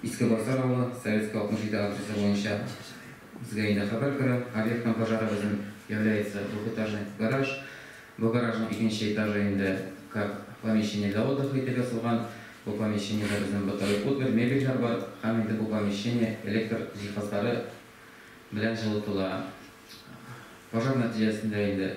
Иске Барсар авылы, Советский 67 адресы буенча безгә инде хәбәр керә. Объектның пожары безнең является двухэтажный гараж. Бу гаражның икенче этажы инде как помещение для отдыха итеп ясалган. Бу помещениедә безнең бытовой утварь, мебельләр бар һәм инде бу помещение электр җиһазлары белән җылытыла. Пожар нәтиҗәсендә инде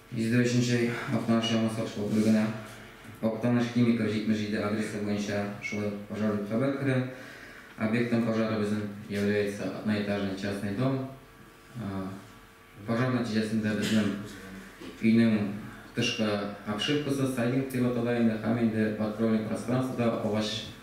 103 Актаныш Яңа сатыш округына Актаныш Химиков 77 адресы буенча шулай ук пожар дип хәбәр керә. Объектом пожара безнең является одноэтажный частный дом. Пожар нәтиҗәсендә безнең өйнең тышкы обшивкасы, сайдинг дип атала инде, һәм инде откройный пространствода агач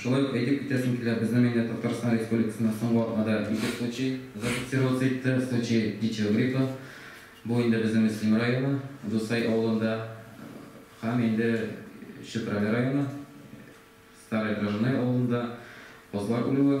Шулай ук әйтеп үтәсем килә, безнең инде Татарстан Республикасында соңгы атнада ике случай зафиксироваться итте, случай птичьего гриппа. Бу инде безнең Өслим районы, Дусай авылында һәм инде Чүпрәле районы, Старое Дрожное авылында казлар үлүе.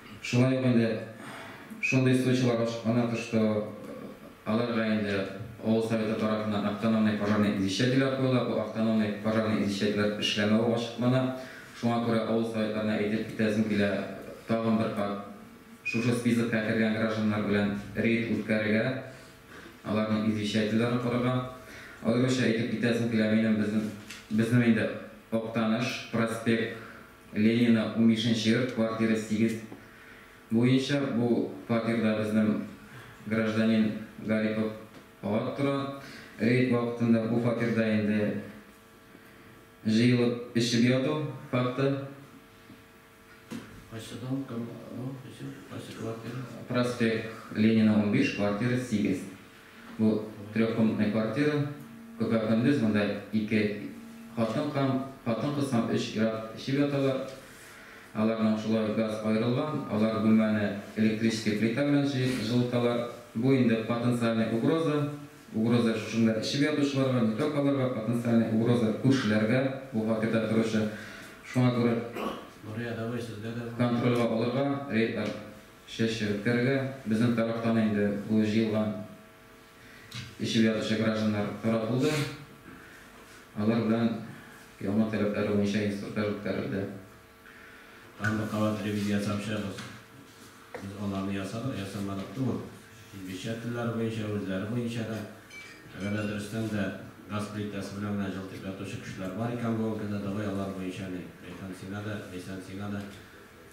Шулай ук инде шундый случайлар ачыклана төште, аларга инде авыл Советы тарафыннан автономный пожарный извещательләр куела, бу автономный пожарный извещательләр эшләмәве ачыклана. Шуңа күрә авыл Советларына әйтеп китәсем килә, тагын бер кат шушы спискка кергән гражданнар белән рейд үткәрергә, аларның извещательләрен карарга. Аеруча әйтеп китәсем килә, минем, безнең инде Актаныш, Проспект, Ленина унбишенче йорт, квартира сигез буенча. Бу фатирда безнең гражданин Гарипов Гат тора. Рейд вакытында бу фатирда инде җыелып эчеп яту факты. Кайсы дом, кем бу, эчеп, кайсы квартира? Проспект Ленина унбиш, квартира сигез. Бу трехкомнатный квартира, Күпер Фәндүс, монда ике хатын кам, хатын-кыз һәм өч ир-ат эчеп яталар. Аларның шулай газ аерылган, алар бүлмәне электрический плита белән җы, жылыталар. Бу инде потенциальный угроза, угроза шушында эчеп ятучыларга, не только аларга, потенциальный угроза күршеләргә, бу фатирда торучы, шуңа күрә контрольгә алырга, рейдлар Чәчә үткәрергә, безнең тарафтан инде бу җыелган, эчеп ятучы гражданнар таратылды, алар белән яңа таләпләре буенча инструктаж үткәрелде. Тагын бер кабат ревизия ясап чыгыгыз. Без аларны ясадык, ясамадык түгел. Инглизчә телләре буенча, үзләре буенча да. Әгәр дә дөрестән дә газ плитәсе белән генә җылытып ятучы кешеләр бар икән бүгенге көндә, давай алар буенча ни, Ләйсән сиңа да, Ләйсән сиңа да.